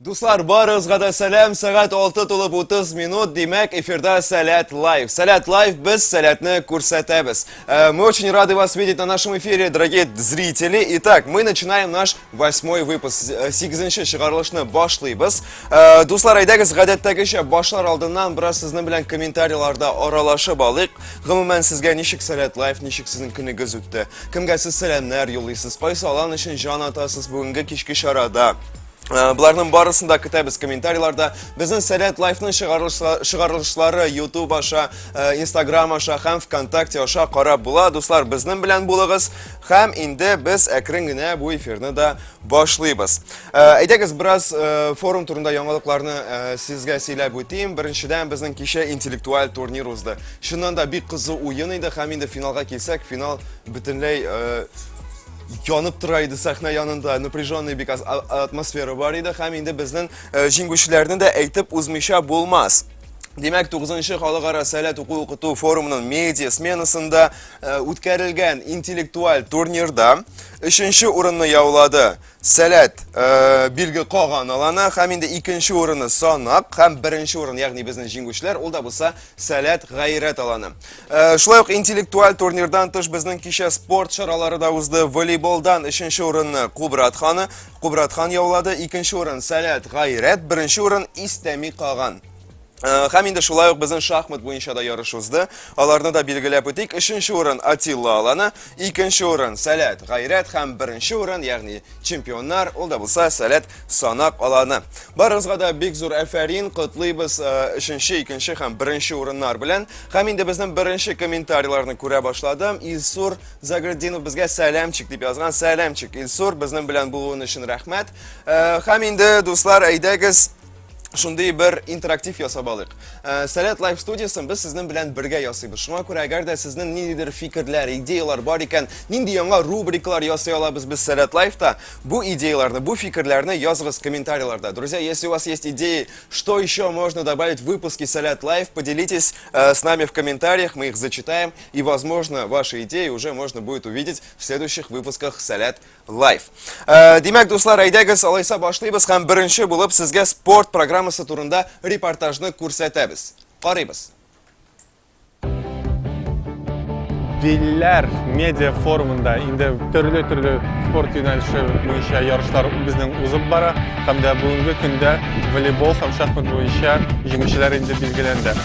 Дуслар, барыгызга да сәлам. Сәгать 6 тулып 30 минут. Димәк, эфирда Сәләт Лайв. Сәләт Лайв без сәләтне күрсәтәбез. Э, мы очень рады вас видеть на нашем эфире, дорогие зрители. Итак, мы начинаем наш восьмой выпуск. 8-нче э, чыгарылышны башлыйбыз. Э, дуслар, әйдәгез, гадәттәгечә башлар алдыннан бераз сезнең белән комментарийларда аралашып алыйк. Гомумән, сезгә ничек Сәләт Лайв, ничек сезнең көнегез үтте? Кемгә сез сәламнәр юллыйсыз? Кайсы алан өчен җан атасыз бүгенге кичке чарада? Э, Буларның барысын да көтәбез комментарийларда. Безнең Сәләт Лайфның чыгарылышлары YouTube аша, э, Instagram аша һәм ВКонтакте аша карап була. Дуслар, безнең белән булыгыз. Һәм инде без әкрен генә бу эфирны да Башлыйбыз. Э, әйдәгез, бераз э, форум турында яңалыкларны э, сезгә сөйләп үтим. Беренчедән, безнең кичә интеллектуаль турнир узды. Шуннан да бик кызу уен иде, һәм инде финалга килсәк, финал бөтенләй янып тора иде сәхнә янында напряженный бик атмосфера бар иде һәм инде безнең җиңүчеләрне дә әйтеп узмыйча булмас Димәк, 9-нчы халыкара сәләт уку укыту форумының медиа сменасында Э, үткәрелгән интеллектуаль турнирда өченче урынны яулады сәләт э, билге каган аланы һәм инде икенче урынны санак һәм беренче урын ягъни безнең җиңүчеләр ул да булса сәләт гайрәт аланы э, шулай ук интеллектуаль турнирдан тыш безнең кичә спорт чаралары да узды волейболдан өченче урынны кубрат ханы кубрат хан яулады икенче урын сәләт гайрәт беренче урын истәми каган Хәм инде шулай ук безнең шахмат буенча да ярыш узды. Аларны да билгеләп үтик. Өченче урын Атилла аланы, икенче урын Сәләт Гайрәт һәм беренче урын, ягъни чемпионнар, ул да булса Сәләт Санак аланы. Барыгызга да бик зур әфәрин, котлыйбыз өченче, икенче һәм беренче урыннар белән. Хәм инде безнең беренче комментарийларны күрә башладым. Илсур Заградинов безгә сәламчик дип язган. Сәламчик Илсур, безнең белән булуын өчен рәхмәт. Хәм инде дуслар, әйдәгез, шундый бер интерактив ясап алыйк. Э, Сәләт лайф студиясен без сезнең белән бергә ясыйбыз. Шуңа күрә, әгәр дә сезнең ниндидер фикерләр, идеялар бар икән, нинди яңа рубрикалар ясый алабыз без Сәләт лайфта, бу идеяларны, бу фикерләрне языгыз комментарийларда. Друзья, если у вас есть идеи, что еще можно добавить в выпуске Сәләт лайф, поделитесь э, с нами в комментариях, мы их зачитаем, и, возможно, ваши идеи уже можно будет увидеть в следующих выпусках Сәләт Лайф. Э, димәк, дуслар, әйдәгез, алайса башлыйбыз һәм беренче булып сезгә спорт программасы турында репортажны күрсәтәбез. Карыйбыз. Билләр медиа форумында инде төрле-төрле спорт юнәлеше буенча ярышлар безнең узып бара һәм дә бүгенге көндә волейбол һәм шахмат буенча җиңүчеләр инде билгеләнде.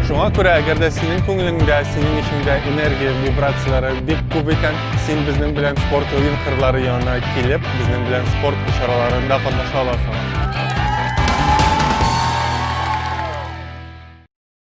Шуңа күрә, әгәр дә синең күңелеңдә, синең эчеңдә энергия, вибрацияләре бик күп икән, син безнең белән спорт уен кырлары янына килеп, безнең белән спорт чараларында катнаша аласың.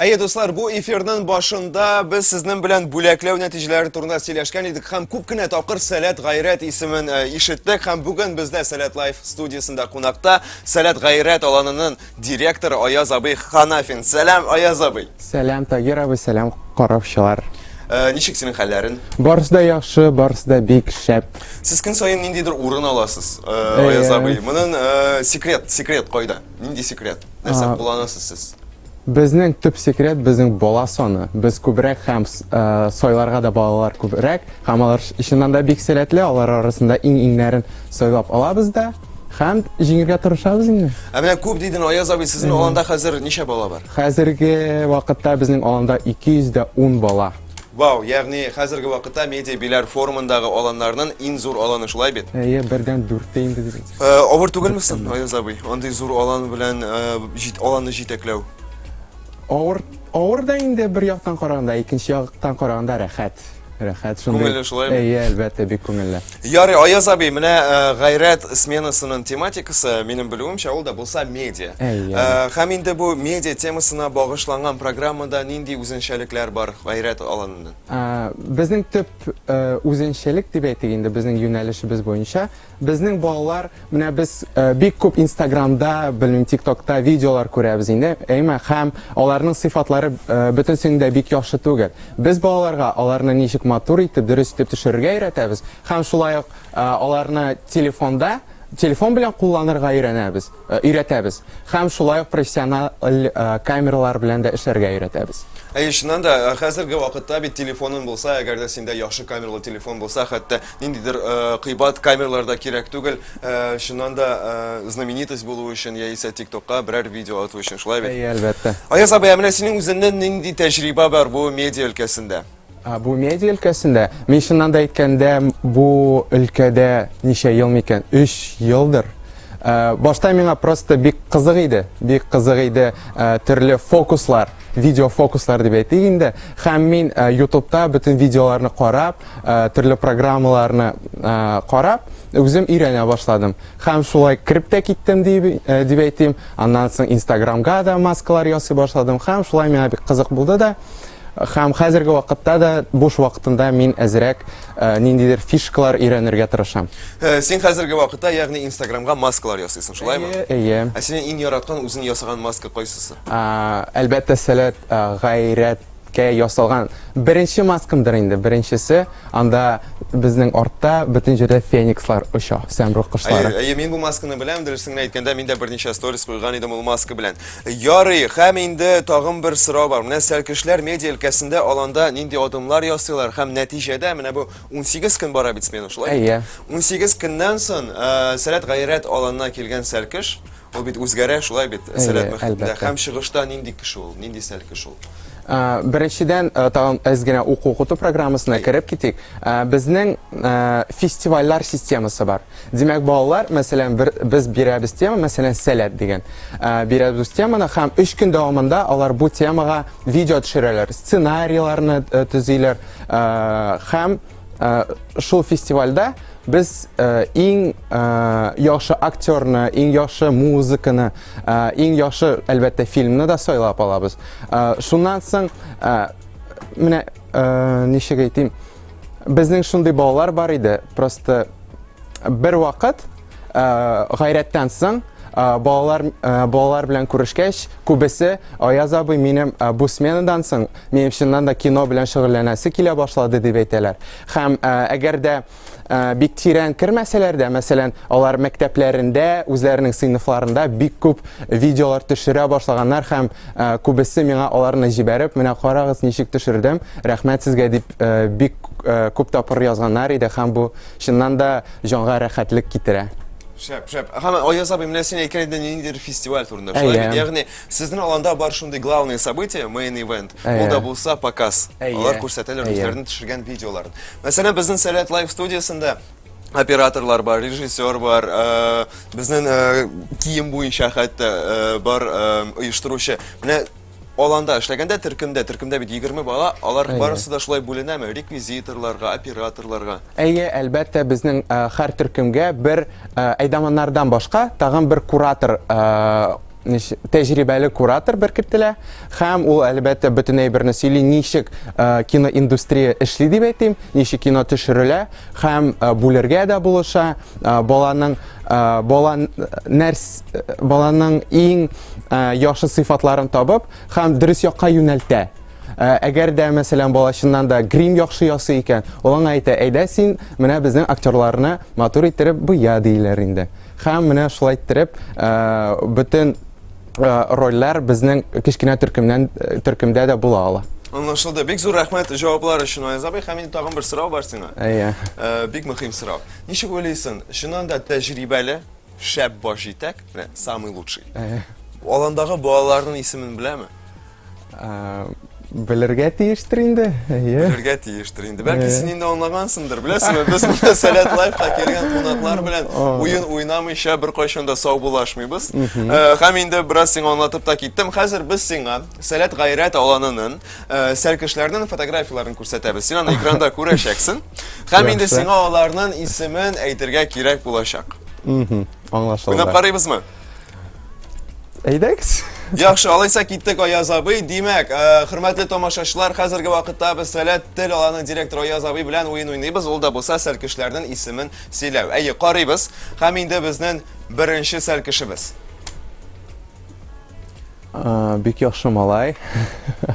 Әйе, дуслар, бу эфирның башында без сезнең белән бүләкләү нәтиҗәләре турында сөйләшкән идек һәм күп кенә тапкыр Сәләт Гайрәт исемен э, ишеттек һәм бүген бездә Сәләт Лайф студиясендә кунакта Сәләт Гайрәт аланының директоры Аяз абый Ханафин. Сәлам, Аяз абый. Сәлам, Тагир абый, сәлам, караучылар. Э, ничек синең хәлләрең? Барысы да яхшы, барысы да бик шәп. Сез көн саен ниндидер урын аласыз, э, Аяз абый. Моның секрет, секрет кайда? Нинди секрет? Нәрсә кулланасыз сез? Безнең төп секрет безнең бала саны. Без күбрәк һәм э, сойларга да балалар күбрәк. Һәм алар чыннан да бик сәләтле, алар арасында иң-иңнәрен сойлап алабыз да. Һәм җиңергә тырышабыз инде. Ә менә күп дидең, Аяз абый, сезнең аланда хәзер ничә бала бар? Хәзерге вакытта безнең аланда 210 бала. Вау, ягъни хәзерге вакытта медиа биләр форумындагы аланнарның иң зур аланы шулай бит? Әйе, бердән дүрттә инде дибез. Э, авыр түгелме соң, Аяз абый, андый зур алан белән э, җит, аланны җитәкләү? Авыр, авыр да инде бер яктан караганда, икенче яктан караганда рәхәт. Рәхәт шундый. Күңелле шулаймы? Әйе, әлбәттә, бик күңелле. Ярый, Аяз абый, менә э, гайрәт сменасының тематикасы, минем белүемчә, ул да булса медиа. Әйе. Э, Һәм инде бу медиа темасына багышланган программада нинди үзенчәлекләр бар гайрәт аланында? Ә, Безнең төп э, үзенчәлек дип әйтик инде безнең юнәлешебез буенча, безнең балалар Менә без бик күп инстаграмда, белмим, тиктокта видеолар күрәбез инде, әйме, һәм аларның сыйфатлары бөтенсенең дә бик яхшы түгел. Без балаларга аларны ничек матур итеп, дөрес итеп төшерергә өйрәтәбез, һәм шулай ук аларны телефонда, телефон белән кулланырга өйрәнәбез, өйрәтәбез, һәм шулай ук профессиональ камералар белән дә эшләргә өйрәтәбез. Әйе, чыннан да, хәзерге вакытта бит телефоның булса, әгәр дә синдә яхшы камералы телефон булса, хәтта ниндидер кыйбат камералар да кирәк түгел, чыннан да знаменитость булу өчен яисә тиктокка берәр видео ату өчен, шулай бит? Әйе, әлбәттә. Аяз абый, ә менә синең үзеңнән нинди тәҗрибә бар бу медиа өлкәсендә? Бу медиа өлкәсендә, мин чыннан да әйткәндә, бу өлкәдә ничә ел микән? 3 елдыр. Башта миңа просто бик кызык иде, бик кызык иде төрле фокуслар, видео фокуслар дип әйтик инде. Һәм мин ютубта бөтен видеоларны карап, төрле программаларны карап, үзем өйрәнә башладым. Хәм шулай крип тә киттем дип әйтим. Аннан соң Instagram-га да маскалар ясый башладым. Хәм шулай миңа бик кызык булды да. Хәм хәзерге вакытта да буш вакытында мин әзрәк ниндидер фишкалар өйрәнергә тырышам. Син хәзерге вакытта, ягъни Instagram-га маскалар ясыйсың, шулай ме? Әйе. Ә синең иң яраткан үзең ясаган маска кайсысы? Әлбәттә, сәләт, гайрәт. Кә ясалган беренче маскамдыр инде, беренчесе. Анда безнең артта бөтен җирдә феникслар оча, сәмруг кошлары. Әйе, әйе, мин бу масканы беләм, дөресен генә әйткәндә, мин дә берничә сторис куйган идем ул маска белән. Ярый, һәм инде тагын бер сорау бар. Менә сәлкешләр медиа өлкәсендә аланда нинди адымнар ясыйлар һәм нәтиҗәдә менә бу 18 көн бара бит смена, шулай бит? Әйе. 18 көннән соң Сәләт-гайрәт аланына килгән сәлкеш, Ул бит үзгәрә, шулай бит, сәләт мөхитендә. Һәм чыгышта нинди кеше ул, нинди сәл кеше ул? Беренчедән, тагын әз генә уку-укыту программасына кереп китик. Безнең фестивальләр системасы бар. Димәк, балалар, мәсәлән, бер без бирәбез тема, мәсәлән, сәләт дигән. Бирәбез теманы һәм өч көн дәвамында алар бу темага видео төшерәләр, сценарийларны төзиләр һәм Э, шул фестивальдә без э, иң э, яхшы актерны, иң яхшы музыканы, иң яхшы, әлбәттә, фильмны да сайлап алабыз. Шуннан соң, менә ничек әйтим, безнең шундый балалар бар иде, просто бер вакыт гайрәттән соң балалар балалар белән күрешкәч, күбесе Аяз абый минем бу сменадан соң минем чыннан да кино белән шөгыльләнәсе килә башлады дип әйтәләр. Һәм әгәр дә бик тирән кермәсәләр дә, мәсәлән, алар мәктәпләрендә, үзләренең сыйныфларында бик күп видеолар төшерә башлаганнар һәм күбесе миңа аларны җибәреп, менә карагыз ничек төшердем, рәхмәт сезгә дип бик күп тапкыр язганнар иде һәм бу чыннан да җанга рәхәтлек китерә. Шәп, шәп. Һәм Аяз абый, менә син әйткән идең ниндидер фестиваль турында. Шулай бит? Ягъни, сезнең аланда бар шундый главное событие, main event. Ул да булса показ. Алар күрсәтәләр үзләренең төшергән видеоларын. Мәсәлән, безнең Сәләт Лайф студиясендә операторлар бар, режиссер бар, безнең кием буенча хәтта бар оештыручы. Менә Аланда эшләгәндә төркемдә, төркемдә бит 20 бала, алар барысы да шулай бүленәме? Реквизиторларга, операторларга? Әйе, әлбәттә, безнең һәр төркемгә бер әйдаманнардан башка тагын бер куратор тәҗрибәле куратор беркетелә һәм ул әлбәттә бөтен әйберне сөйли ничек киноиндустрия эшли дип әйтим ничек кино төшерелә һәм бүлергә дә булыша баланың бала нәрс баланың иң яхшы сыйфатларын табып һәм дөрес якка юнәлтә әгәр дә мәсәлән бала чыннан да грим яхшы ясый икән ул аңа әйтә әйдә син менә безнең актерларны матур иттереп буя диеләр инде һәм менә шулай иттереп бөтен рольләр безнең кечкенә төркемнән төркемдә дә була ала Аңлашылды. Бик зур рәхмәт җаваплар өчен, Аяз абый. Һәм инде тагын бер сорау бар сиңа. Әйе. Бик мөһим сорау. Ничек уйлыйсың, чыннан да тәҗрибәле, шәп баш җитәк, менә самый лучший. Аландагы балаларның исемен беләме? Белергә тиештер инде. Белергә тиештер инде. Бәлки син инде аңлагансыңдыр, беләсеңме? Без монда Сәләт лайфка килгән кунаклар белән уен уйнамыйча беркайчан да саубуллашмыйбыз. Һәм инде бераз сиңа аңлатып та киттем. Хәзер без сиңа Сәләт гайрәт аланынын сәр кешеләрнең фотографияләрен күрсәтәбез. Син аны экранда күрәчәксең. Һәм инде сиңа аларның исемен әйтергә кирәк булачак. Аңлашылды. Уйнап карыйбызмы? Әйдәгез. Яхшы, алайса киттек Аяз абый. Димәк, хөрмәтле тамашачылар, хәзерге вакытта без Сәләт тел аланы директор Аяз абый белән уен уйныйбыз. Ул да булса сәр кешеләрнең исемен сөйләү. Әйе, карыйбыз. Һәм инде безнең беренче сәр кешебез. Бик яхшы малай.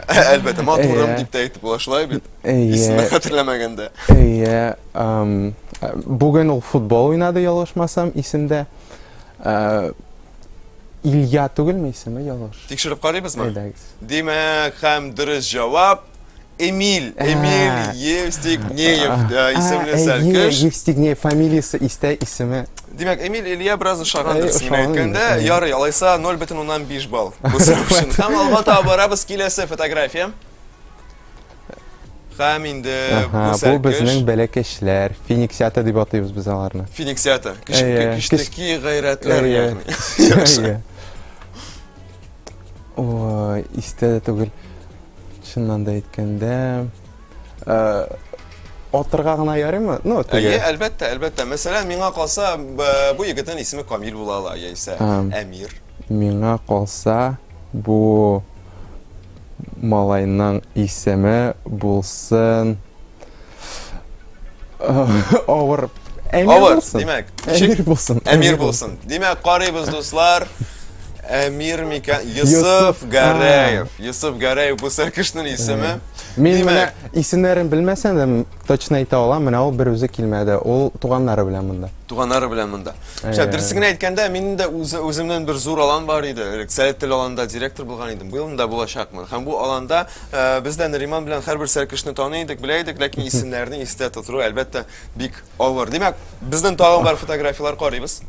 Әлбәттә, матурым дип тә әйтеп була шулай бит. Исемен хәтерләмәгәндә. Әйе. Бүген ул футбол уйнады, ялгышмасам, исемдә. Илья түгелме исеме, ялгыш? Тикшереп карыйбызмы? Әйдәгез. Димәк, һәм дөрес җавап. Эмиль, Эмиль Евстигнеев э, исемле сәлкеш. Евстигнеев фамилиясе истә исеме. Димәк, Эмиль Илья бераз ошагандыр э, исемен әйткәндә, ярый, алайса 0,5 балл. Бу сорау өчен. Һәм алга таба барабыз киләсе фотография. Һәм инде бу сәлкеш. Бу безнең бәләкәчләр, финиксиата дип атыйбыз без аларны. Финиксиата, кечкенәки гайрәтләр ягъни. Ой, истә дә түгел. Чыннан да әйткәндә, атырга гына ярыймы? Ну, теге. Әйе, әлбәттә, әлбәттә. Мәсәлән, миңа калса, бу егетнең исеме Камил була ала, яисә Әмир. Миңа калса, бу малайның исеме булсын Авыр. Әмир Авыр, булсын. Димәк, Әмир булсын. Әмир булсын. Димәк, карыйбыз, дуслар. Әмир микән? Йосыф Гарәев. Йосыф Гарәев бу сәркешнең исеме. Мин менә исемнәрен белмәсәм дә точно әйтә алам, менә ул бер үзе килмәде. Ул туганнары белән монда. Туганнары белән монда. Шә дөресен әйткәндә, мин дә үзе үземнән бер зур алан бар иде. Рексәләт тел аланда директор булган идем. Быел да булачакмын. Һәм бу аланда Ә, без дә Нариман белән һәрбер сәркешне таный идек, белә идек, ләкин исемнәрне истә тотыру, әлбәттә, бик авыр. Димәк, безнең тагын бар фотографияләр карыйбыз.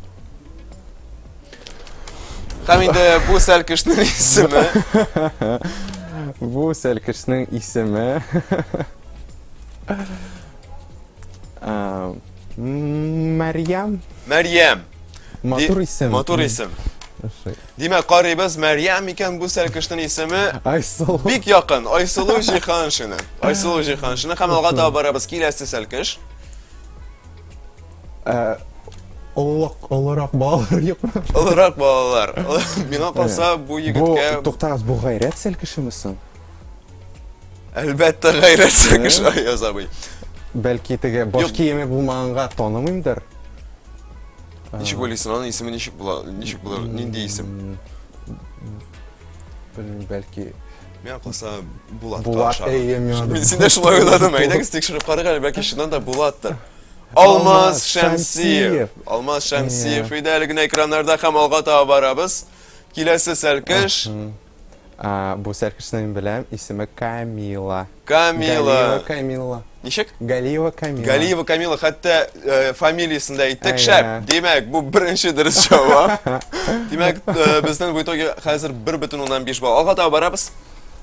Һәм инде бу сәркешнең исеме. Бу сәркешнең исеме. Мәрьям. Мәрьям. Матур исем. Матур исем. Димәк, карыйбыз, Мәрьям микән бу сәлкешнең исеме? Айсылу. Бик якын, Айсылу Җиһаншина. Айсылу Җиһаншина һәм алга таба барабыз киләсе сәлкеш. Э, Олылык, олырак балалар юкмы? Олырак балалар. Миңа калса бу Бу, егеткә туктагыз, бу гайрәт сәлкешеме соң? әлбәттә гайрәт сәлкеш Аяз абый. Бәлки теге баш Юк. киеме булмаганга танымыймдыр? Ничек уйлыйсың, аның исеме ничек була? Ничек булыр? Нинди исем? Белмим, бәлки Миңа калса Булат. Булат, әйе, миңа да. Син дә шулай уйладыңмы? Әйдәгез тикшереп карыйк әле, бәлки чыннан да Булаттыр. Алмаз Шәмсиев. Алмаз Шәмсиев иде әле генә экраннарда һәм алга таба барабыз. Киләсе сәлкеш. А, бу сәркешне мин беләм, исеме Камила. Камила. Галиева Камила. Ничек? Галиева Камила. Галиева Камила, хәтта э, фамилиясын да әйттек. Әйе. Шәп. Димәк, бу беренче дөрес җавап. Димәк, э, безнең в итоге хәзер 1,5 балл. Алга таба барабыз.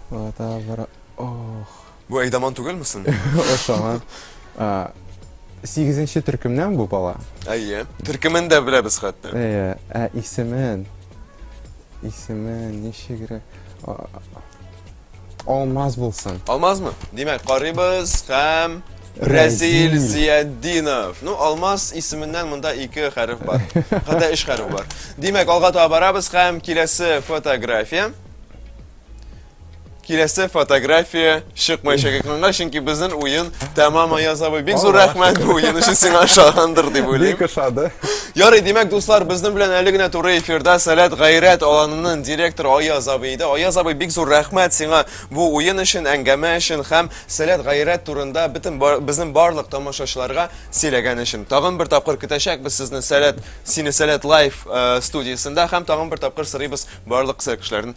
Ата бара. Ох. Бу Әйдаман түгелме сон? Ошама. А, Сигезенче төркемнән бу бала. Әйе. Төркемен дә беләбез хәтта. Әйе. Ә исемен? Исемен ничегрәк? А, Алмаз булсын. Алмазмы? Димәк, карыйбыз һәм Рәзил Рәзил. Зиятдинов. Ну, Алмаз исеменнән монда ике хәреф бар. Хәтта өч хәреф бар. Димәк, алга таба барабыз һәм киләсе фотография. Киләсе фотография чыкмай шәкекнанга, чөнки безнең уен тәмам Аяз абый. Бик зур рәхмәт бу уен өчен сиңа ошагандыр дип уйлыйм. Бик ошады. Ярый, димәк, дуслар, безнең белән әле генә туры эфирда Сәләт гайрәт аланының директоры Аяз абый иде. Аяз абый, бик зур рәхмәт сиңа бу уен өчен, әңгәмә өчен һәм Сәләт гайрәт турында бөтен безнең барлык тамашачыларга сөйләгән өчен. Тагын бер тапкыр көтәчәкбез сезне Сәләт, сине Сәләт лайф э, студиясендә һәм тагын бер тапкыр сырыйбыз барлык сәләт кешеләрен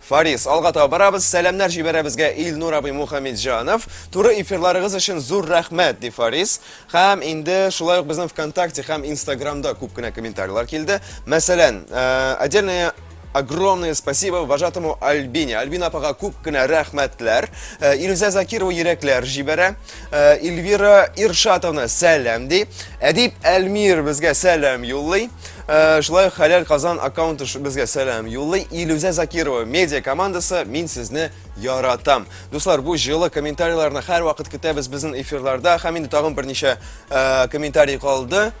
Фарис, алга таба барабыз, сәламнәр җибәрәбезгә Илнур абый Мухаммедҗанов. Туры эфирларыгыз өчен зур рәхмәт, ди Фарис. Һәм инде шулай ук безнең ВКонтакте һәм Инстаграмда күп кенә комментарийлар килде. Мәсәлән, э, отдельное огромное спасибо вожатому Альбине. Альбина апага күп кенә рәхмәтләр. Э, Илүзә Закирова йөрәкләр җибәрә. Э, Ильвира Иршатовна сәләм ди. Әдип Әлмир безгә сәләм юллый. Э, шулай Хәләл Казан аккаунты безгә сәләм юллый. Илүзә Закирова медиа командасы мин сезне яратам. Дуслар, бу җылы комментарийларны һәрвакыт көтәбез безнең эфирларда. Һәм инде тагын берничә э, комментарий калды.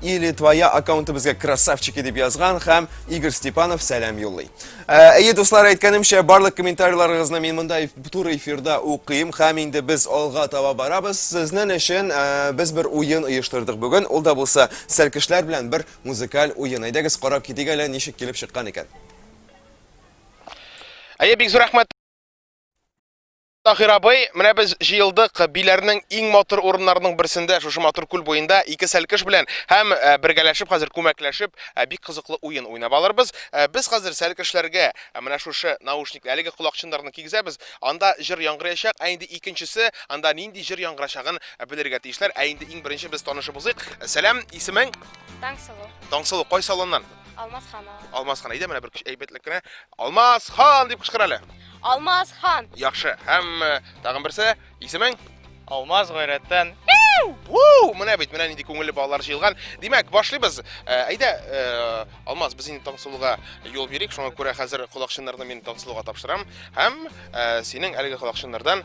Или твоя аккаунты безгә красавчики дип язган һәм Игорь Степанов сәләм юллый. Ә, Әйе, дуслар, әйткәнемчә, барлык комментарийларыгызны мин монда эф- туры эфирда укыйм һәм инде без алга таба барабыз. Сезнең өчен ә, без бер уен оештырдык бүген. Ул да булса сәркешләр белән бер музыкаль уен. Әйдәгез карап китик әле ничек килеп чыккан икән. Әйе, бик зур рәхмәт. Таһир абый, менә без җыелдык Биләрнең иң матур урыннарының берсендә, шушы матур күл буенда ике сәлкеш белән һәм э, бергәләшеп хәзер күмәкләшеп э, бик кызыклы уен уйнап алырбыз. Э, без хәзер сәлкешләргә менә шушы наушник, әлеге колакчыннарны кигезәбез. Анда җыр яңгыраячак, ә инде икенчесе анда нинди җыр яңгырачагын белергә тиешләр. Ә инде иң беренче без танышып узыйк. Сәлам, исемең? Таңсылу. Таңсылу, кайсы аланнан? Алмаз Ханова. Алмаз хан, әйдә менә бер әйбәтлек кенә. Алмаз хан дип кычкыр әле. Алмаз хан. Яхшы. Һәм э, тагын берсе, исемең? Алмаз гайрәттән. Уу, менә бит, менә нинди күңелле балалар җыелган. Димәк, башлыйбыз. Э, Әйдә, э, Алмаз, без инде Таңсылуга юл бирик. Шуңа күрә хәзер колакчыннарны мин Таңсылуга тапшырам. Һәм э, синең әлеге колакчыннардан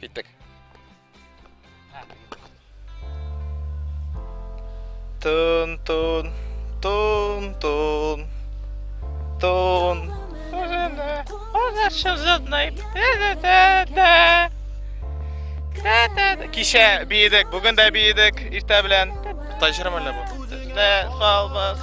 Киттек. Тун, тун, тун, тун, тун. Кичә биедек, бүген дә биедек, иртә белән. Тайжырым әллә бу? Дә, салмас,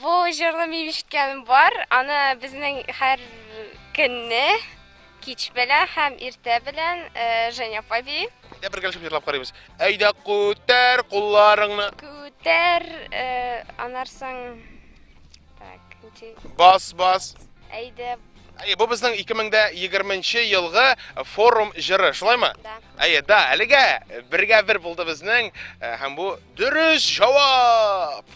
Бу җырлы мин ишеткәнем бар. Аны безнең һәр көнне кич белә һәм иртә белән э, Женя апа би. Әйдә бергәләшеп җырлап карыйбыз. Әйдә күтәр кулларыңны. Күтәр э, анарсың. Так, ничек? Бас, бас. Әйдә, Әйе, бу безнең 2020 елгы форум җыры, шулаймы? Да. Әйе, да, әлегә бергә бер булды безнең э, һәм бу дөрес җавап.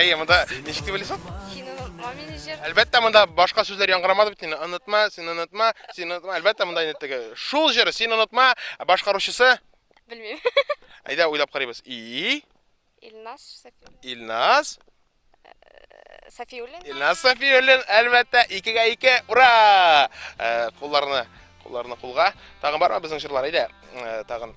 Әйе, монда ничек дип уйлыйсың? Син онытма мине җыр. Әлбәттә, монда башка сүзләр яңгырамады бит инде. Онытма, син онытма, син онытма. Әлбәттә, монда инде теге шул җыр, син онытма, башкаручысы. Белмим. Әйдә уйлап карыйбыз. И. Илнас Сафиуллин. Илнас. Э, Сафиуллин. Илнас Сафиуллин, әлбәттә, икегә ике. Ура! Э, кулларны, кулларны кулга. Тагын барма безнең җырлар, әйдә. Э, тагын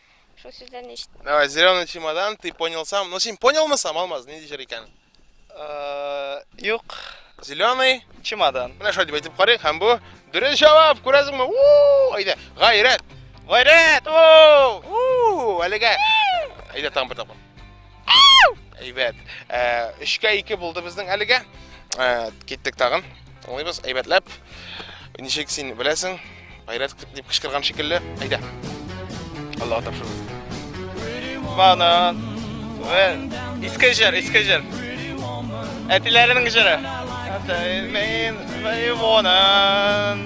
Шул сүзләрне ишет. Давай, зеленый чемодан, ты понял сам. Ну, син понял мы сам, Алмаз, не дишер икән. Э, юк. Зеленый чемодан. Менә шулай дип әйтеп карыйк, һәм бу дөрес җавап, күрәсеңме? У! Әйдә, гайрәт. Гайрәт! У! У! Әлегә. Әйдә, тагын бер тапкыр. Әйбәт. Э, Өчкә ике булды безнең әлегә. Э, киттек тагын. Тыңлыйбыз, әйбәтләп. Ничек син беләсең? Гайрәт дип кычкырган шикелле. Әйдә. Аллаһ тапшырды. Банан. Иске җыр, иске җыр. Әтиләренең җыры. Атаймен, Вайвонан.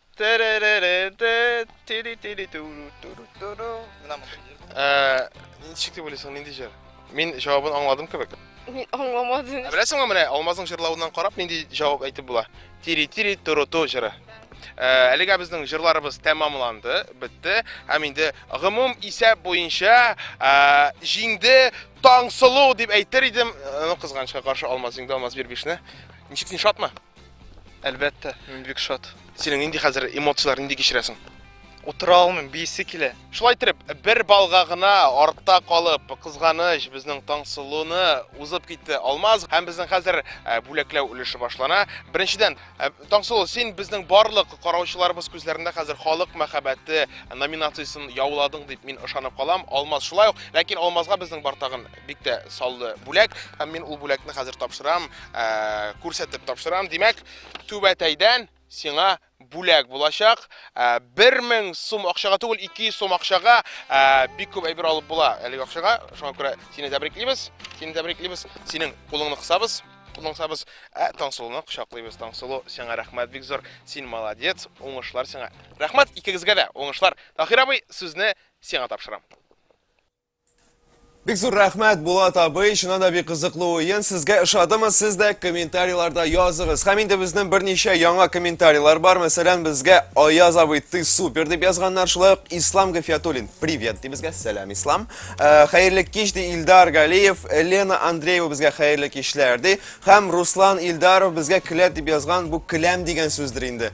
Ничек дип уйлыйсың, нинди җыр? Мин җавабын аңладым кебек. Мин аңламадым. Ә беләсеңме менә Алмазның җырлавыннан карап нинди җавап әйтеп була? Тири-тири туруту җыры. Әлегә безнең җырларыбыз тәмамланды, бетте. Һәм инде гомум исәп буенча җиңде Таңсылу дип әйтер идем. Ну, кызганычка каршы Алмаз җиңде, Алмаз Бирбишне. Ничек син шатмы? Әлбәттә, мин бик шат. Синең нинди хәзер эмоцияләр, нинди кичерәсең? Утыра алмыйм, бийсе килә. Шулай итеп, бер балга гына артта калып, кызганыч, безнең Таңсылуны узып китте Алмаз һәм безнең хәзер э, бүләкләү өлеше башлана. Беренчедән, э, Таңсылу, син безнең барлык караучыларыбыз күзләрендә хәзер халык мәхәббәте номинациясен яуладың дип мин ышанып калам. Алмаз шулай ук, ләкин Алмазга безнең бартагын бик тә саллы бүләк һәм мин ул бүләкне хәзер тапшырам ә, күрсәтеп тапшырам димәк түбәтәйдән сиңа бүләк булачак. 1000 э, сум акчага түгел, 200 сум акчага э, бик күп әйбер алып була әлеге акчага. Шуңа күрә сине тәбриклибез. Сине тәбриклибез. Синең кулыңны кысабыз. Кулыңны кысабыз. Ә Таңсылуны кочаклыйбыз. Таңсылу, сиңа рәхмәт бик зур. Син молодец. Уңышлар сиңа. Рәхмәт икегезгә дә. Уңышлар. Тахир абый, сүзне сиңа тапшырам. Бик зур рәхмәт, Булат абый, чыннан да бик кызыклы уен. Сезгә ошадымы? Сез дә комментарийларда языгыз. Һәм инде безнең берничә яңа комментарийлар бар. Мәсәлән, безгә Аяз абый ты супер дип язганнар. Шулай ук Ислам Гафиятуллин привет ди безгә. Сәлам, Ислам. Э, хәерле кич ди Илдар Галиев. Елена Андреева безгә хәерле кичләр ди. Һәм Руслан Илдаров безгә келәт дип язган. Бу келәм дигән сүздер инде.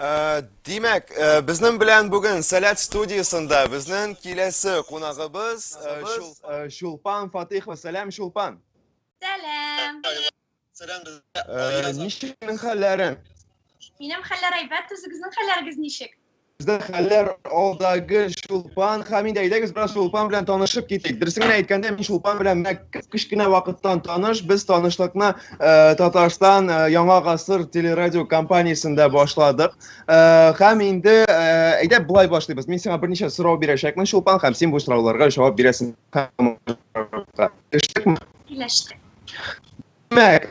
Э, Димәк, э, безнең белән бүген Сәләт студиясендә безнең киләсе кунагыбыз э, Шулпан Фатыйхова. Сәлам, Шулпан. Сәлам. Сәлам. Ничек хәлләрең? Минем хәлләр әйбәт, үзегезнең хәлләрегез ничек? Бездә хәлләр алдагы Чулпан Хамид, әйдәгез бераз Чулпан белән танышып китик. Дөресен генә әйткәндә, мин Чулпан белән мәктәп кечкенә вакыттан таныш. Без танышлыкны э, Татарстан э, Яңа гасыр телерадио компаниясендә башладык. Э, һәм инде әйдә болай башлыйбыз. Мин сиңа берничә сорау бирәчәкмен, Чулпан, һәм син бу сорауларга җавап бирәсең. Килештекме? Килештек. Димәк,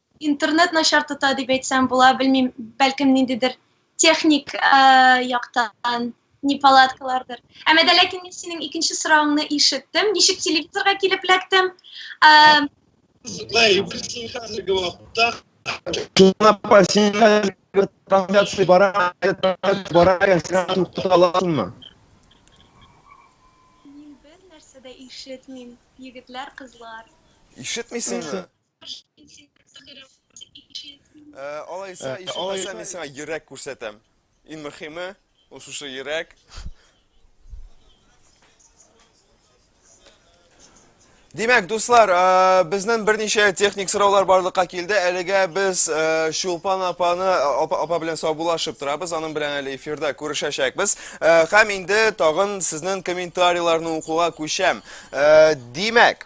Интернет начар тота дип әйтсәм була, белмим, бәлкем ниндидер техник э, яктан не палаткалардыр. Әмма дә ләкин мин синең икенче соравыңны ишеттем. Ничек телевизорга килеп эләктем? Э, Злай, бирсен хәзерге вакытта. Шуңа пассивлар трансляция бара, бара, сиңа туктата аласыңмы? Мин бер нәрсә дә ишетмим, егетләр, кызлар. Ишетмисеңме? Ә, алайса, Ә, ишетмәсә мин сиңа йөрәк күрсәтәм. Иң мөхиме, ул шушы йөрәк. Димәк, дуслар, ә, безнен берничә техник сораулар барлыкка килде. Әлегә без ә, Чулпан апаны апа, апа белән саубулашып торабыз. Аның белән әле эфирда күрешәчәкбез. Ә, һәм инде тагын сезнең комментарийларны укуга күчәм. Ә, димәк,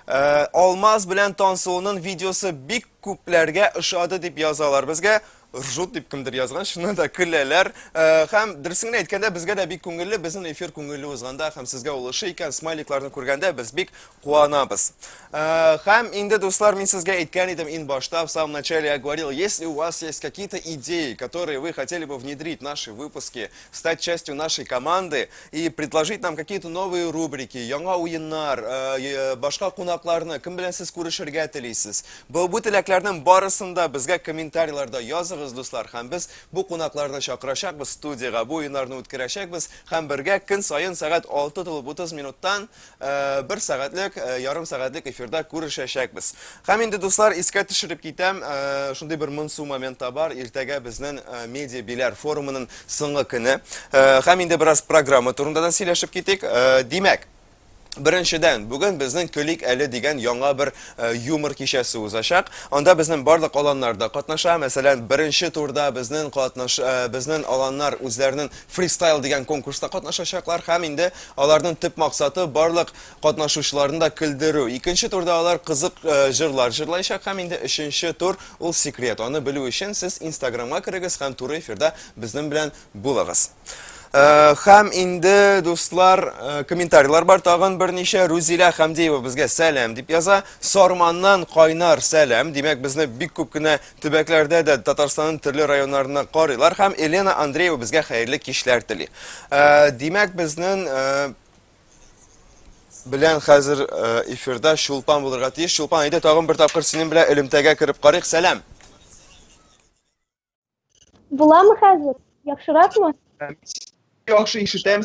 Э, алмаз белән тансуының видеосы бик күпләргә ошады дип язалар безгә ржут дип кемдер язган шуны да көләләр э, һәм дөресен генә әйткәндә безгә дә бик күңелле безнең эфир күңелле узганда һәм сезгә ул ошый икән смайликларны күргәндә без бик куанабыз э, һәм инде дуслар мин сезгә әйткән идем ин башта в самом начале я говорил если у вас есть какие-то идеи которые вы хотели бы внедрить наши выпуски стать частью нашей команды и предложить нам какие-то новые рубрики, яңа уеннар, э, э, башка кунакларны, кем белән сез күрешергә телисез. Бу, бу теләкләрнең барысын да безгә комментарийларда языгыз, дуслар, һәм без бу кунакларны чакырачакбыз студиягә, бу уеннарны үткәрәчәкбез, һәм бергә көн саен сәгать 6 тулып 30 минуттан Э, бер сәгатьлек э, ярым сәгатьлек эфирда күрешәчәкбез һәм инде дуслар искә төшереп китәм э, шундый бер монсу момент бар иртәгә безнең медиа биләр форумының соңгы көне һәм инде бераз программа турында да сөйләшеп китик димәк Беренчедән, бүген безнең көлик әле дигән яңа бер э, юмор кичәсе узачак. Анда безнең барлык аланнарда катнаша. Мәсәлән, беренче турда безнең катнаш э, безнең аланнар үзләренең фристайл дигән конкурста катнашачаклар һәм инде Аларның төп максаты барлык катнашучыларны да көлдерү. Икенче турда алар кызык җырлар җырлаячак һәм инде өченче тур ул секрет. Аны белү өчен сез инстаграмга керегез һәм туры эфирда безнең белән булыгыз. Һәм инде дуслар, комментарийлар бар тагын берничә. Рузилә Хәмдиева безгә сәлам дип яза. Сарманнан кайнар сәлам. Димәк, безне бик күп кенә Төбәкләрдә дә Татарстанның төрле районнарына карыйлар һәм Елена Андреева безгә хәерле кичләр тели. Э, димәк, безнең э, белән хәзер э, эфирда Чулпан булырга тиеш. Чулпан, әйдә тагын бер тапкыр синең белән элемтәгә кереп карыйк. Сәлам. Буламы хәзер? Яхшыракмы? Яхшы ишетәм.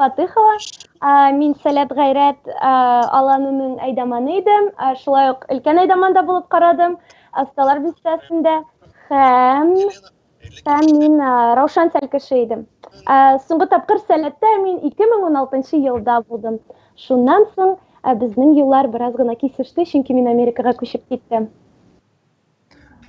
Фатыхова. Мин Сәләт гайрәт аланының әйдаманы идем. Шулай ук өлкән әйдаманда булып карадым. Асталар бистәсендә һәм һәм мин Раушан Сәл кеше идем. Соңгы тапкыр Сәләттә мин 2016 елда булдым. Шуннан соң безнең юллар бераз гына кисеште, чөнки мин Америкага күчеп киттем.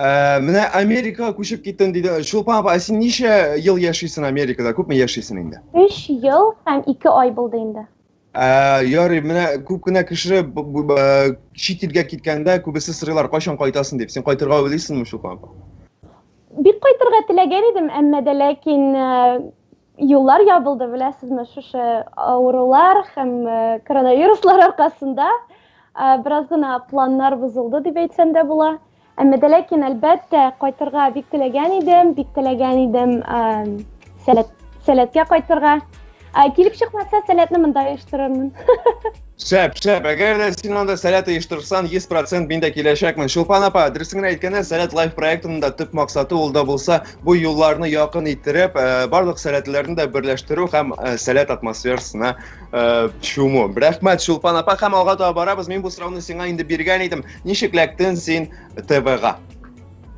Ә, менә Америкага күчеп киттем диде. Чулпан апа, ә син ничә ел яшисең Америкада? Күпме яшисең инде? 3 ел һәм 2 ай булды инде. Ә, ярый, менә күп кенә кеше б- б- б- чит илгә киткәндә күбесе сорыйлар, кайчан кайтасың дип. Син кайтырга уйлыйсыңмы, Чулпан апа? Бик кайтырга теләгән идем, әмма дә ләкин э, юллар ябылды, беләсезме, шушы авырулар һәм э, коронавируслар аркасында э, бераз гына планнар бозылды дип әйтсәм дә була. Әмма дә ләкин әлбәттә кайтырга бик теләгән идем, бик теләгән идем сәләт, сәләткә кайтырга. Килеп чыкмаса, сәләтне монда оештырырмын. Шәп, шәп. Әгәр дә син анда сәләт оештырсаң, 100% мин дә киләчәкмен. Чулпан апа, дөресен генә әйткәндә, Сәләт Лайф проектының да төп максаты ул да булса, бу юлларны якын иттереп, э, барлык сәләтләрне дә берләштерү һәм э, сәләт атмосферасына э, чуму. Рәхмәт, Чулпан апа, һәм алга таба барабыз. Мин бу сорауны сиңа инде биргән идем. Ничек ләктен син ТВга?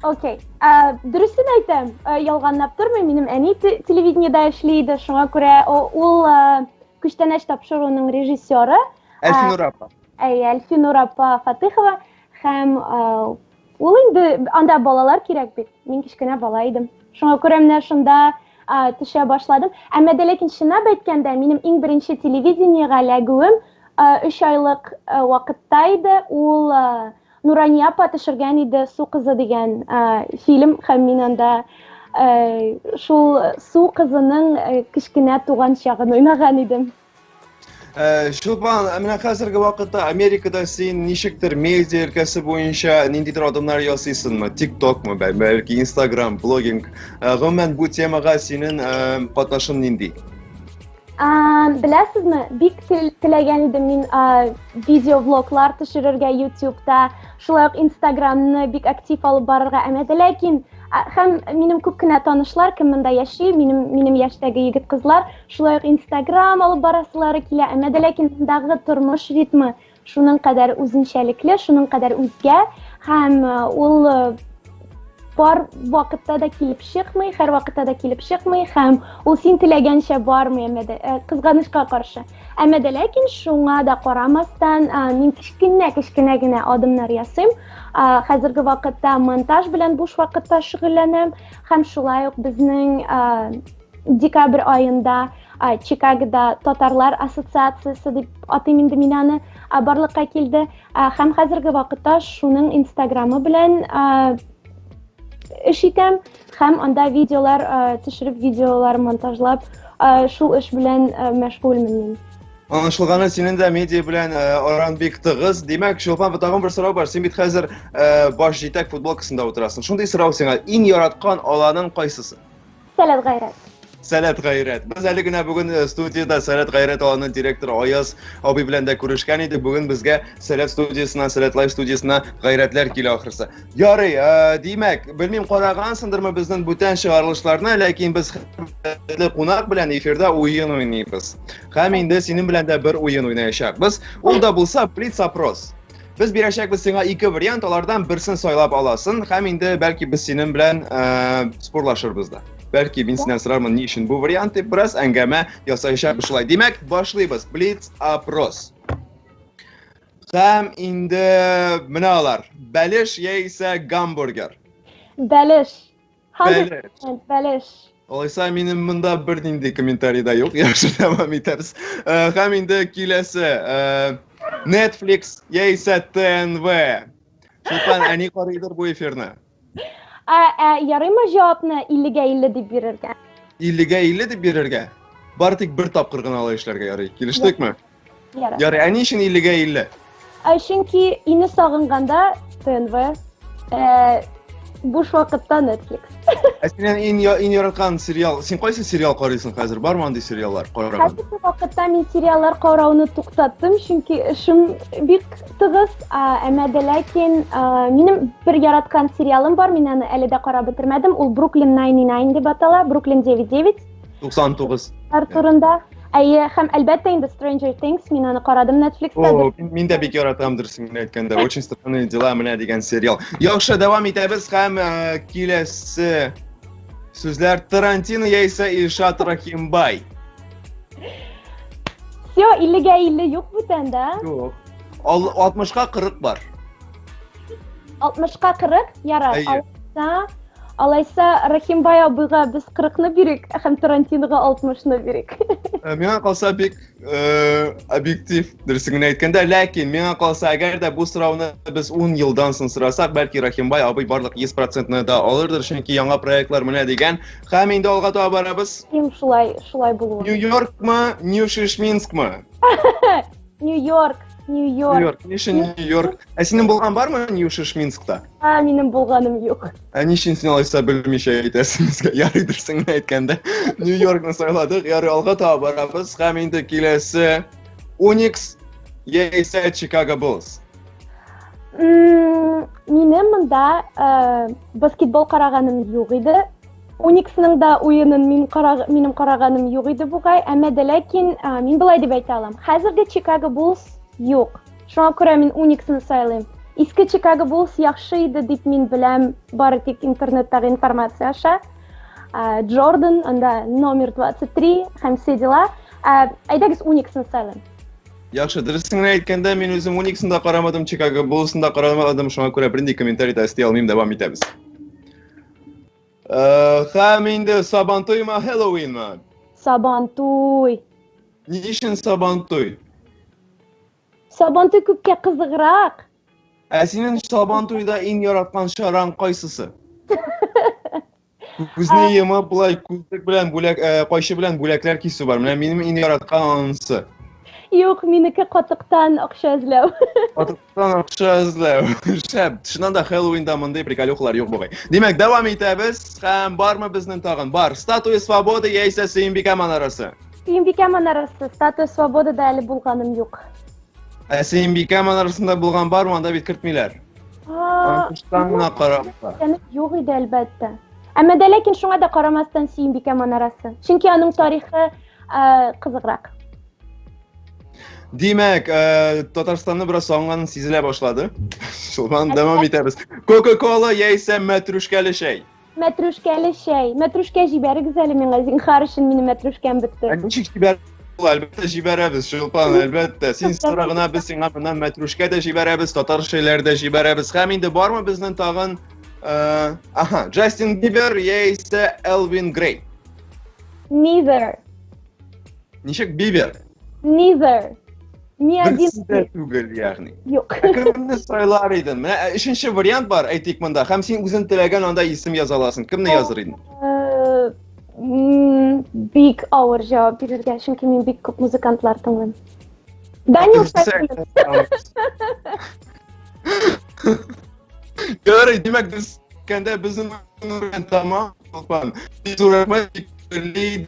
Окей. Э, Дөресен әйтәм, э, ялганлап тормыйм. Минем әни те- телевидениедә эшли иде, шуңа күрә о- ул э, Күчтәнәч тапшыруның режиссеры Әлфинур апа. Әйе, Әлфинур апа Фатыхова һәм ул инде анда балалар кирәк бит. Мин кечкенә бала идем. Шуңа күрә менә шунда төшә башладым. Әмма дә ләкин чынлап әйткәндә, минем иң беренче телевидениегә эләгүем 3 айлык вакытта иде. Ул Нурания апа төшергән иде Су кызы дигән фильм һәм мин анда шул Су кызының кечкенә туган чагын уйнаган идем. Чулпан, ә менә хәзерге вакытта Америкада син ничектер медиа өлкәсе буенча ниндидер адымнар ясыйсыңмы? Тиктокмы, бәлки Инстаграм, блогинг. Гомумән бу темага синең катнашың нинди? Беләсезме, бик теләгән идем мин видеоблоглар төшерергә ютубта, шулай ук инстаграмны бик актив алып барырга әмәде, ләкин һәм минем күп кенә танышлар, кем монда яши, минем минем яшьтәге егет кызлар, шулай ук инстаграм алып барасылары килә, әмәде, ләкин мондагы тормыш ритмы Шуның кадәр үзенчәлекле, шуның кадәр үзгә һәм ул бар вакытта да килеп чыкмый, һәр вакытта да килеп чыкмый һәм ул син теләгәнчә бармый, әмма дә э, кызганычка каршы. Әмма дә ләкин шуңа да карамастан, э, мин кечкенә кечкенә генә адымнар ясыйм. Э, хәзерге вакытта монтаж белән буш вакытта шөгыльләнәм һәм шулай ук безнең декабрь аенда чикагода татарлар ассоциациясе дип атыйм инде мин аны барлыкка килде һәм хәзерге вакытта шуның инстаграмы белән эш итәм һәм анда видеолар төшереп видеолар монтажлап шул эш белән мәшгульмен мин Аңлашылганы синең дә медиа белән аран бик тыгыз. Димәк, Чулпан, тагын бер сорау бар. Син бит хәзер баш җитәк футболкасында утырасың. Шундый сорау сиңа. Иң яраткан аланың кайсысы? Сәләт гайрәт. Сәләт гайрәт. Без әле генә бүген э, студиядә Сәләт гайрәт аланының директоры Аяз абый белән дә күрешкән идек. Бүген безгә Сәләт студиясенә, Сәләт лайф студиясенә гайрәтләр килә ахрысы. Ярый, э, димәк, белмим карагансыңдырмы безнең бүтән чыгарылышларны, ләкин без хөрмәтле кунак белән эфирда уен уйныйбыз. Һәм инде синең белән дә бер уен уйнаячакбыз. Ул да булса блиц опрос. Без бирәчәкбез сиңа ике вариант, алардан берсен сайлап аласың һәм инде бәлки без синең белән э, спорлашырбыз да. Бәлки мин синнән сорармын ни өчен бу вариант дип бераз әңгәмә ясаячакбыз шулай. Димәк, башлыйбыз. Блиц опрос. Һәм инде менә алар. Бәлеш яисә гамбургер. Бәлеш. 100% бәлеш. Алайса минем монда бер нинди комментарий да юк. Яхшы дәвам итәбез. Һәм инде киләсе Netflix яисә ТНВ. Султан әни карыйдыр бу эфирны. Ә, ә ярыймы җавапны 50-гә 50 дип бирергә? 50-гә 50 дип бирергә? Бары тик бер тапкыр гына алай эшләргә ярый. Килештекме? Ярар. Ярый, ә ни өчен 50-гә 50? Ә чөнки ине сагынганда ТНВ, э, буш вакытта Netflix. Ә синең иң я- иң яраткан сериал, син кайсы сериал карыйсың хәзер? Бармы андый сериаллар караган? Хәзерге вакытта мин сериаллар карауны туктаттым, чөнки эшем бик тыгыз. А, Әмма дә ләкин а, минем бер яраткан сериалым бар, мин аны әле дә карап бетермәдем. Ул Бруклин 99 дип атала, Бруклин 99. 99. Ар турында. Әйе, һәм әлбәттә инде Stranger Things, мин аны карадым Netflix-та. О, мин дә бик яратам дөресен генә әйткәндә. Очень странные дела менә дигән сериал. Яхшы, дәвам итәбез һәм э, киләсе сүзләр Тарантино яисә Илшат Рахимбай. Все, 50-га 50 юк бүтән, да? Юк. 60-ка 40 бар. 60-ка 40, ярар. Алайса, алайса Рахимбай абыйга без 40-ны бирик, һәм Тарантинога 60-ны бирик. Э, миңа калса бик э, объектив дөресен генә әйткәндә, ләкин миңа калса, әгәр дә бу сорауны без 10 елдан соң сорасак, бәлки Рахимбай абый барлык 100%-ны да алырдыр, чөнки яңа проектлар менә дигән. Һәм инде алга таба барабыз. Ким шулай, шулай булуы. Нью-Йоркмы, Нью-Шишминскмы? Нью-Йорк, Нью-Йорк. Нью-Йорк. Ни өчен Нью-Йорк? Ә синең булган бармы Нью-Йорк Шминскта? А, минем булганым юк. Ә ни өчен син алайса белмичә әйтәсең безгә? Ярый дөресен әйткәндә. Нью-Йоркны сайладык. Ярый алга таба барабыз. Һәм инде киләсе Unix яисә Chicago Bulls. Минем монда э, баскетбол караганым юк иде. Униксның да уенын мин караг, минем караганым юк иде бугай, әмма дә ләкин ә, мин былай дип әйтә алам. Хәзерге Чикаго Булс юк. Шуңа күрә мин Униксны сайлыйм. Иске Чикаго Булс яхшы иде дип мин беләм, бары тик интернеттагы информация аша. Ә, Джордан, анда номер 23 һәм все дела. Ә, әйдәгез Униксны сайлыйм. Яхшы, дөресен генә әйткәндә, мин үзем Униксны да карамадым, Чикаго Буллсын да карамадым, шуңа күрә бернинди комментарий да өсти алмыйм, дәвам итәбез. Хәм инде Сабантуйма Хэллоуинма? Сабантуй. Ни өчен Сабантуй? Сабантуй күпкә кызыграк. Ә синең Сабантуйда иң яраткан чараң кайсысы? Күзне йомып болай күзлек белән бүләк э, кайчы белән бүләкләр кисү бар. Менә минем иң яраткан анысы. Юк, минеке катыктан акча эзләү. Катык Акча эзләү. Шәп. Чыннан да Хэллоуинда мондый приколюхалар юк бугай. Димәк, дәвам итәбез. Һәм бармы безнең тагын? Бар. Статуя свободы яисә Сөембикә манарасы? Сөембикә манарасы. Статуя свободы да әле булганым юк. Ә Сөембикә манарасында булган бар, монда бит кертмиләр. Аңкыштан гына карап. Юк иде, әлбәттә. Әмма дә ләкин шуңа да карамастан Сөембикә манарасы. Чөнки аның тарихы кызыграк. Димәк, э, Татарстанны бераз сагынганың сизелә башлады. Шулдан дәвам итәбез. Кока-кола яисә мәтрүшкәле чәй? Мәтрүшкәле чәй. Мәтрүшкә җибәрегез әле миңа, зинхар өчен минем мәтрүшкәм бетте. Ә ничек җибәр? Әлбәттә җибәрәбез, Шулпан, әлбәттә. Син сорагына без сиңа моннан мәтрүшкә дә җибәрәбез, татар чәйләре дә җибәрәбез. Һәм инде бармы безнең тагын э, Аха, Джастин Бибер яисә Элвин Грей? Neither. Ничек Бибер? Neither. Ни один. Берсе дә түгел, ягъни. Юк. Ә кемне сайлар идең? Менә ә, өченче вариант бар, әйтик монда. Һәм син үзең теләгән анда исем яза аласың. Кемне языр идең? Э, м, Бик авыр җавап бирергә, чөнки мин бик күп музыкантлар тыңлыйм. Данил Сәфинов. Ярый, димәк, без кәндә безнең урын тамам, Олпан. Без урынга телибез,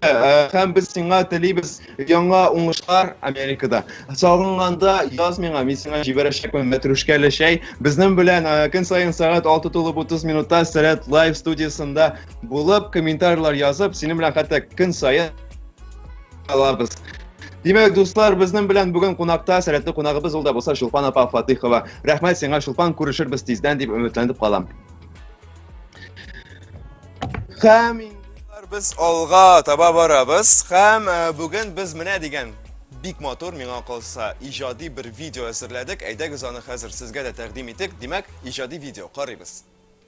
һәм без сиңа телибез яңа уңышлар Америкада. Сагынганда яз миңа, мин сиңа җибәрәчәкмен мәтрүшкәле чәй. Безнең белән көн саен сәгать 6 тулып 30 минутта Сәрәт лайв студиясендә булып, комментарийлар язып, синең белән хәтта көн саен алабыз. Димәк, дуслар, безнең белән бүген кунакта сәләтле кунагыбыз ул да булса Чулпан апа Фатыйхова. Рәхмәт сиңа, Чулпан, күрешербез тиздән дип өметләнеп калам. Хәм без алга таба барабыз. Хәм э, бүген без менә дигән бик матур миңа калса иҗади бер видео әзерләдек. Әйдәгез аны хәзер сезгә дә тәкъдим итик. Димәк, иҗади видео карыйбыз.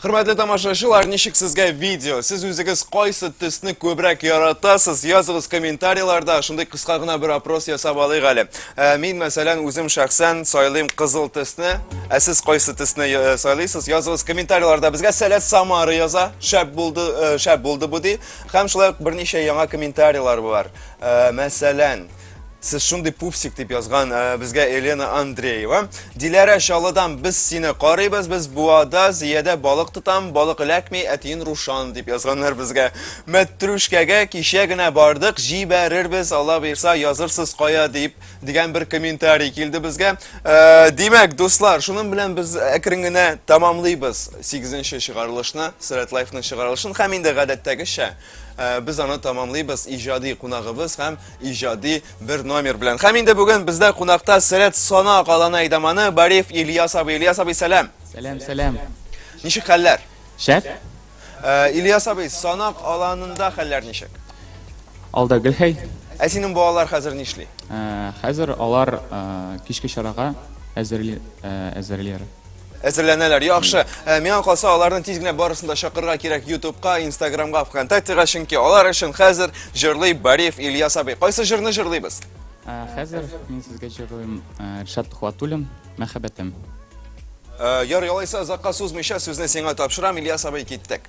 Хөрмәтле тамашачылар, ничек сезгә видео? Сез үзегез кайсы төсне күбрәк яратасыз? Языгыз комментарийларда, шундый кыска гына бер опрос ясап алыйк әле. Ә, мин, мәсәлән, үзем шәхсән сайлыйм кызыл төсне. Ә сез кайсы төсне э, сайлыйсыз? Языгыз комментарийларда. Безгә Сәләт Самары яза. Шәп булды, э, шәп булды бу ди. Һәм шулай ук берничә яңа комментарийлар бар. Ә, мәсәлән, Сез шундый пупсик дип язган э, безгә Елена Андреева. Диләрә Чалыдан без сине карыйбыз, без буада зиядә балык тотам, балык эләкми, әтиен Рушан дип язганнар безгә. Мәтрүшкәгә кичә генә бардык, җибәрербез, Алла бирса язырсыз кая дип дигән бер комментарий килде безгә. Э, димәк, дуслар, шуның белән без әкрен генә тамамлыйбыз 8 нче чыгарылышны, Сәләтлаевның чыгарылышын һәм инде гадәттәгечә Ә без аны тамамлыйбыз иҗади кунагыбыз һәм иҗади бер номер белән. Һәм инде бүген бездә кунакта Сәрәт Сана каланы әйдаманы Бариф Ильяс абый. Ильяс абый, сәлам. Сәлам, сәлам. Ничек хәлләр? Шәп. Ә, Ильяс абый, Санак аланында хәлләр ничек? Алда Гөлхәй. Ә синең балалар хәзер нишли? Ә, хәзер алар кичке чарага әзерли, әзерләр. әзерләнәләр. Яхшы, э, миңа калса, аларны тиз генә барысын да чакырырга кирәк YouTube'ка, Instagram'га, ВКонтактега, чөнки алар өчен хәзер җырлый Бариев Ильяс абый. Кайсы җырны җырлыйбыз? Ә, Хәзер мин сезгә җырлыйм ә, Ришат Тухватуллин Мәхәббәтем. Э, Яр ялайса, озакка сузмыйча сүзне сиңа тапшырам, Ильяс абый, киттек.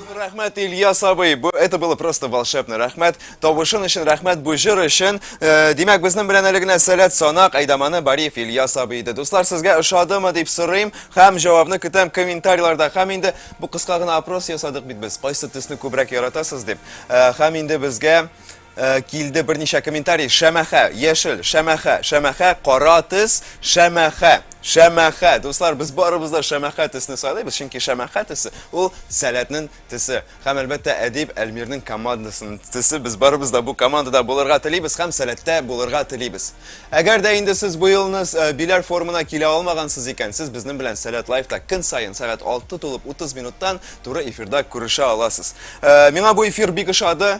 Рәхмәт, Ильяс абый. Бу это было просто волшебно. Рәхмәт. Тавышын өчен рәхмәт бу җыр өчен. Э, димәк, безнең белән әле генә Сәләт Санак Айдаманы Бариев Ильяс абый иде. Дуслар, сезгә ошадымы дип сорыйм һәм җавабны көтәм комментарийларда. Һәм инде бу кыска гына опрос ясадык бит без. Кайсы төсне күбрәк яратасыз дип. Э, һәм инде безгә Э, килде берничә комментарий. Шәмәхә, яшел, шәмәхә, шәмәхә, кара төс, шәмәхә, шәмәхә. Дуслар, без барыбыз да шәмәхә төсне сайлыйбыз, чөнки шәмәхә төсе ул сәләтнең төсе. Һәм әлбәттә Әдип Әлмирнең командасының төсе. Без барыбыз да бу командада булырга телибез һәм сәләттә булырга телибез. Әгәр дә инде сез бу елны э, Биләр форумына килә алмагансыз икән, сез безнең белән Сәләт лайфта көн саен сәгать 6 тулып 30 минуттан туры эфирда күрешә аласыз. Э, миңа бу эфир бик ошады.